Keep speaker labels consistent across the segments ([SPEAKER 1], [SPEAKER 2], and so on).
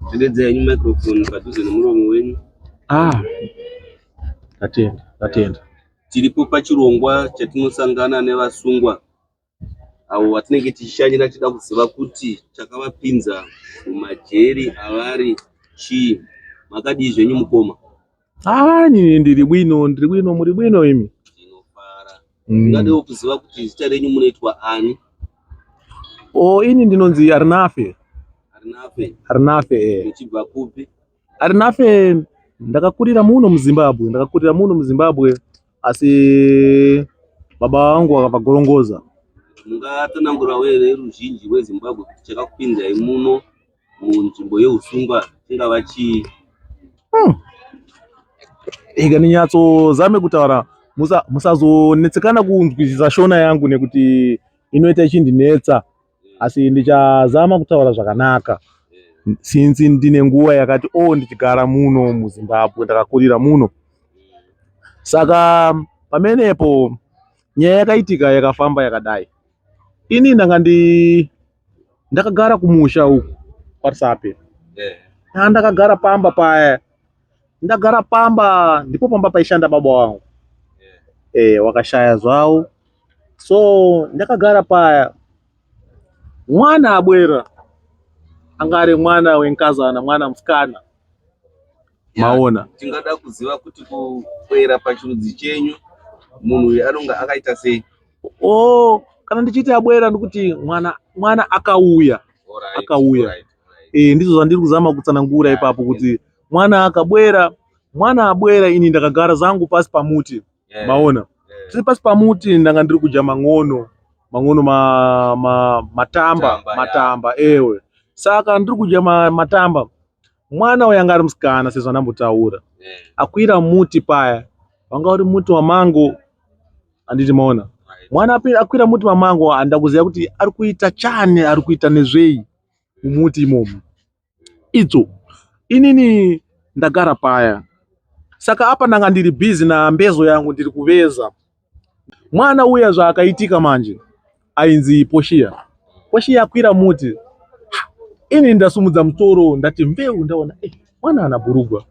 [SPEAKER 1] Tendedza yenyu microphone padhuze nemuromo wenyu. Ah.
[SPEAKER 2] Tatenda, tatenda. Tiripo
[SPEAKER 1] pachirongwa chatinosangana nevasungwa avo vatinenge tichishanyira tichida kuziva kuti chakavapinza mumajeri avari chii. Makadii zvenyu mukoma? Ah, nini
[SPEAKER 2] ndiri bwino, ndiri bwino, muri bwino imi? Ndinofara.
[SPEAKER 1] Mm. Ndingadewo kuziva kuti zita renyu munoitwa ani?
[SPEAKER 2] Oh, ini ndinonzi Arinafe. Arinafe. Arinafe.
[SPEAKER 1] Eh. Muchibva kupi? Arinafe
[SPEAKER 2] ndakakurira muno muZimbabwe, ndakakurira muno muZimbabwe asi baba vangu vakabva Gorongoza. Mungatanangurawo
[SPEAKER 1] here ruzhinji rweZimbabwe kuti chakakupinzai muno? munzvimbo yeusungwa chingava chii
[SPEAKER 2] hmm. ika ndinyatsozame kutaura musazonetsekana kunzwisisa shona yangu nekuti inoita ichindinetsa asi ndichazama kutaura zvakanaka since ndine nguva yakati o oh, ndichigara muno muzimbabwe ndakakurira muno saka pamenepo nyaya yakaitika yakafamba yakadai ini ndanga ndi ndakagara kumusha uku kwaRusape yeah. ndakagara pamba paya ndagara pamba ndipo pamba paishanda baba wangu yeah. eh, wakashaya zvawo so ndakagara paya mwana abwera anga ari mwana wenkazana mwana musikana maona tingada
[SPEAKER 1] kuziva kuti kuera pachirudzi chenyu munhu uyu anonga akaita sei o oh,
[SPEAKER 2] kana ndichiita abwera ndikuti mwana mwana akauya right, akauya
[SPEAKER 1] right, right. e ndizvo
[SPEAKER 2] zvandiri kuzama kutsanangura yeah, ipapo kuti yeah. mwana akabwera mwana abwera ini ndakagara zangu pasi pamuti yeah, maona yeah. tiri pasi pamuti ndanga ndiri kudya mang'ono mang'ono ma, ma, matamba matamba, matamba yeah. ewe saka ndiri kudya ma, matamba mwana uyu anga ari musikana sezvandambotaura eh. akwira muti paya wanga uri muti wamango anditi maona mwana akwira muti wamango handa kuziva kuti ari kuita chani ari kuita nezvei mumuti imomo idzo inini ndagara paya saka apa ndanga ndiri bhizi nambezo yangu ndiri kuveza Mwana uya zvaakaitika manje ainzi Poshiya. Poshiya akwira muti. Ini ndasumudza musoro ndati mbeu ndaona eh, mwana ana burugwa.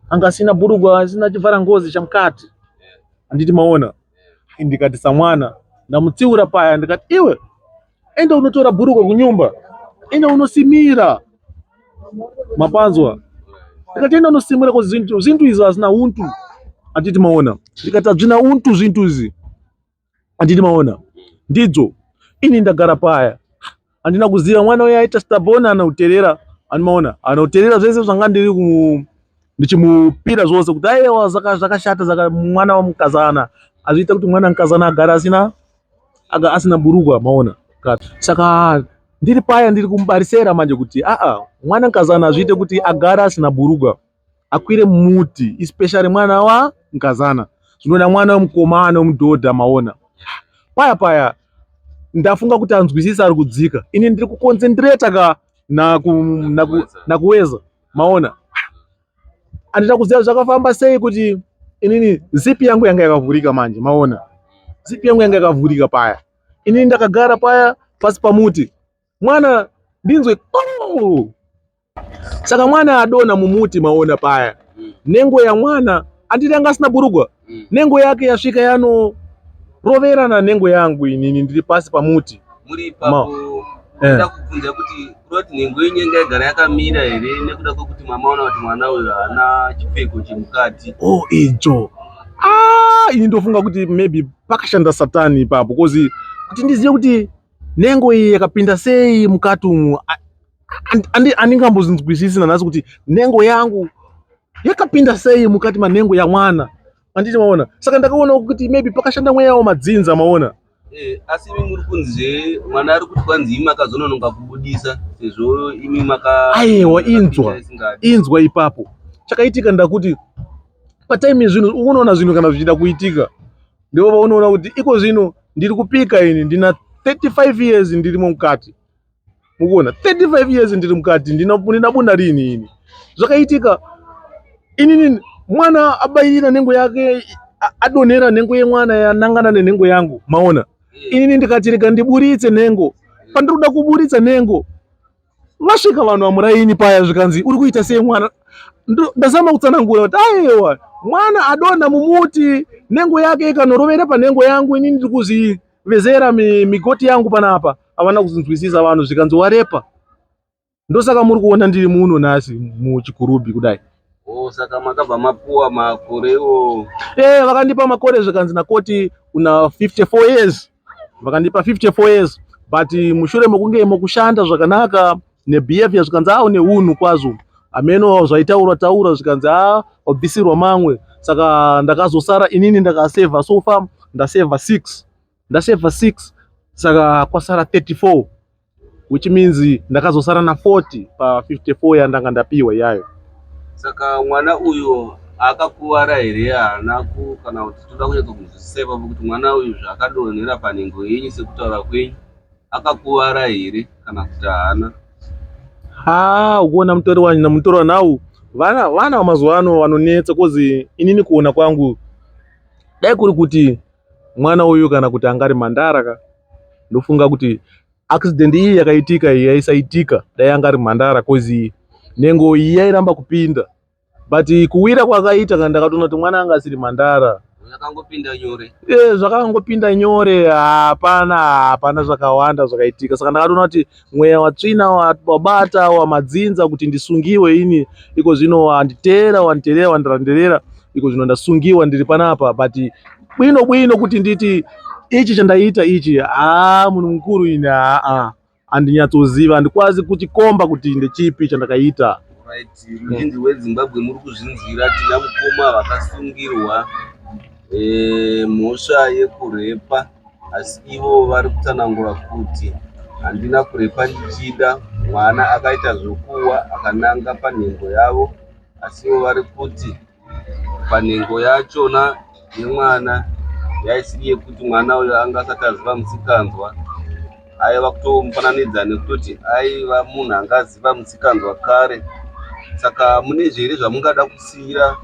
[SPEAKER 2] Anga asina burugwa asina chivhara ngozi chamukati. Anditi maona. Ndikati samwana ndamutsiura paya ndikati iwe Enda unotora bhurukwa kunyumba, enda unosimira mapanzwa akatenda unosimura ko zintu zintu izvi hazina untu atiti maona ndikati hazvina untu zvintu izvi atiti maona ndidzo ini ndagara paya handina kuziva mwana uya aita stabona anauterera anmaona anauterera zvese zvanga ndiri ku ndichimupira zvose kuti aiwa zvakashata saka mwana wamukazana azviita kuti mwana mukazana agara asina aga asina burugwa maona saka ndiri paya ndiri kumubarisera manje kuti aa mwana mukazana azviite kuti agara asina burugwa akwire muti especially mwana wa mukazana zvinoda mwana wemukomana wemudhodha maona paya paya ndafunga kuti anzwisisa ari kudzika ini ndiri kukonzendireta ka nakuweza na maona andida kuziva zvakafamba sei kuti inini zipi yangu yanga yakavhurika manje maona zipi yangu yanga yakavhurika paya inini ndakagara paya pasi pamuti mwana ndinzwe oh! saka mwana adona mumuti maona paya nengo yamwana anditi anga asina burugwa mm. nengo yake yasvika yanoroverana nengo yangu inini ndiri pasi pamuti muri ipapo
[SPEAKER 1] eh. nda kubvunza kuti kuroti nhengo yenyu inga igara yakamira here nekuda kwekuti mamaona kuti mwana uyo haana chipfeko chemukati o oh, icho
[SPEAKER 2] ah, ini ndofunga kuti maybe pakashanda satani ipapo bcause kuti ndizive kuti nhengo iyi yakapinda sei mukati umu andingambozinzwisisi nanhasi kuti nhengo yangu yakapinda sei mukati manhengo yamwana anditi maona saka ndakaona kuti maybe pakashanda mweya yawo madzinza maona eh, asi imi
[SPEAKER 1] muri kunzi mwana ari kuti kwanzi imi makazonononga kubudisa sezvo imi maka aiwa
[SPEAKER 2] inzwa inzwa ipapo chakaitika ndakuti pataimi zvinhu unoona zvinhu kana zvichida kuitika ndivo vaunoona kuti iko zvino ndiri kupika ini ndina 35 years ndirimo mukati mukuona 35 years ndiri mukati ndinabunda riini ini zvakaitika inini mwana abayira nhengo yake adonhera nhengo yemwana yanangana nenhengo yangu maona inini ndikati rega ndiburitse nhengo pandiri kuda kuburitsa nhengo vasvika vanhu vamuraini paya zvikanzi uri kuita sei mwana ndazama kutsanangura kuti aewa mwana adonha mumuti nhengo yake ikanorovera panhengo yangu inini ndiri kuzivezera migoti yangu panapa avana kuzinzwisisa vanhu zvikanzi warepa ndosaka muri kuona ndiri muno nhasi muchikurubhi kudai oh, saka makabva
[SPEAKER 1] mapuwa makore iwo e eh, vakandipa
[SPEAKER 2] makore zvikanzi nakoti una 54 years vakandipa 54 years but mushure mekunge mokushanda zvakanaka nebehavior zvikanzi a une unhu kwazvo hameno zvaitaurwa taura zvikanzi a wabvisirwa mamwe saka ndakazosara inini ndakasevha sofa ndasevha six ndaseva 6 saka kwasara 34 which means ndakazosara na 40 pa 54 yandanga ndapiwa iyayo saka
[SPEAKER 1] mwana uyu akakuvara here haana ku kana kuti toda kunyatso kunzwisisa ipapo kuti mwana uyu zvaakadonhera panhengo yenyu sekutaura kwenyu akakuvara here kana kuti haana ha
[SPEAKER 2] ukuona mutori wanyina mutori wanawu vana vana vamazuva ano vanonetsa kozi inini kuona kwangu dai kuri kuti Mwana uyu kana kuti anga ari mhandara ka ndofunga kuti accident iyi yakaitika iyi yaisaitika dai anga ari mhandara cause nengo iyi yairamba kupinda but kuwira kwakaita kana ndakatoona kuti mwana anga asiri mhandara zvakangopinda
[SPEAKER 1] nyore eh zvakangopinda
[SPEAKER 2] nyore hapana hapana zvakawanda zvakaitika saka ndakatoona kuti Mweya watsvina wabata wamadzinza kuti ndisungiwe ini iko zvino wanditeera wanditeerera wandiranderera iko zvino ndasungiwa ndiri panapa but bwino bwino kuti nditi ichi chandaiita ichi haa munhu mukuru ini haa andinyatsoziva andikwazi kuchikomba kuti ndechipi chandakaita right muindi
[SPEAKER 1] wezimbabwe muri kuzvinzwira tina mukoma vakasungirwa Eh, mhosva yekurepa asi ivo vari kutsanangura kuti handina kurepa ndichida mwana akaita zvokuwa akananga panhengo yavo asi ivo vari kuti panhengo yachona yemwana yaisiri yekuti mwana uyo anga asati aziva musikanzwa aiva kutomufananidza nekutoti aiva munhu anga aziva musikanzwa kare saka mune zviri zvamungada kusiira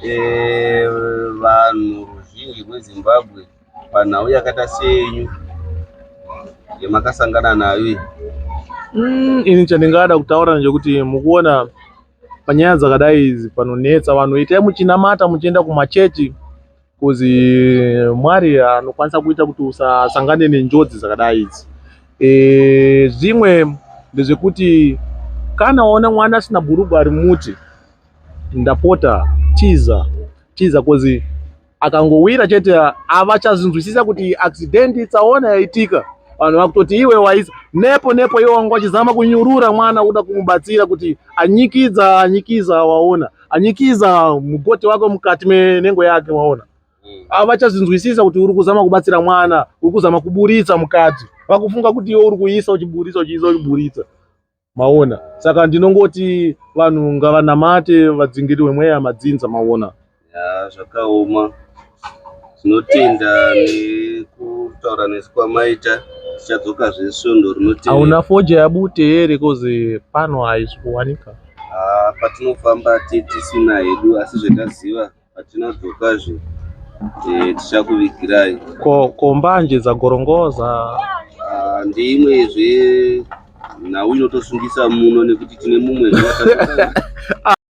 [SPEAKER 1] Eh, vanhu ruzhinji rwezimbabwe panhau yakaita senyu yamakasangana nayo
[SPEAKER 2] iyi Mm, ini chandingada kutaura ndechekuti mukuona panyaya dzakadai idzi panonetsa vanhu itai muchinamata muchienda kumachechi Coz Mwari anokwanisa kuita kuti usasangane nenjodzi dzakadai idzi. E, zvimwe ndezvekuti kana waona mwana asina bhurugwa ari muti ndapota tiza tiza kozi akangowira chete avachazinzwisisa kuti accident tsaona yaitika vanhu vakutoti iwe waisa nepo nepo iwe wanga wachizama kunyurura mwana kuda kumubatsira kuti anyikidza anyikiza waona anyikiza mukoti wako mukati menengo yake waona mm. avachazvinzwisisa kuti uri kuzama kubatsira mwana uri kuzama kuburitsa mukadzi vakufunga kuti iwe uri kuisa uchiburitsa uchiisa uchiburitsa maona saka ndinongoti vanhu ngavanamate vadzingirwe mweya madzinza maona zvakaoma
[SPEAKER 1] yeah, tinotenda nekutaura nesu kwamaita tichadzoka zve svondo rinotevera hauna foja yabute
[SPEAKER 2] here kozi pano haisi kuwanika ah, patinofamba
[SPEAKER 1] titisina hedu asi zvetaziva patinodzokazve eh, tichakuvigirai ko kombanje
[SPEAKER 2] dzagorongoza ah, ndeimwe zve
[SPEAKER 1] nhau inotosungisa muno nekuti tine mumwe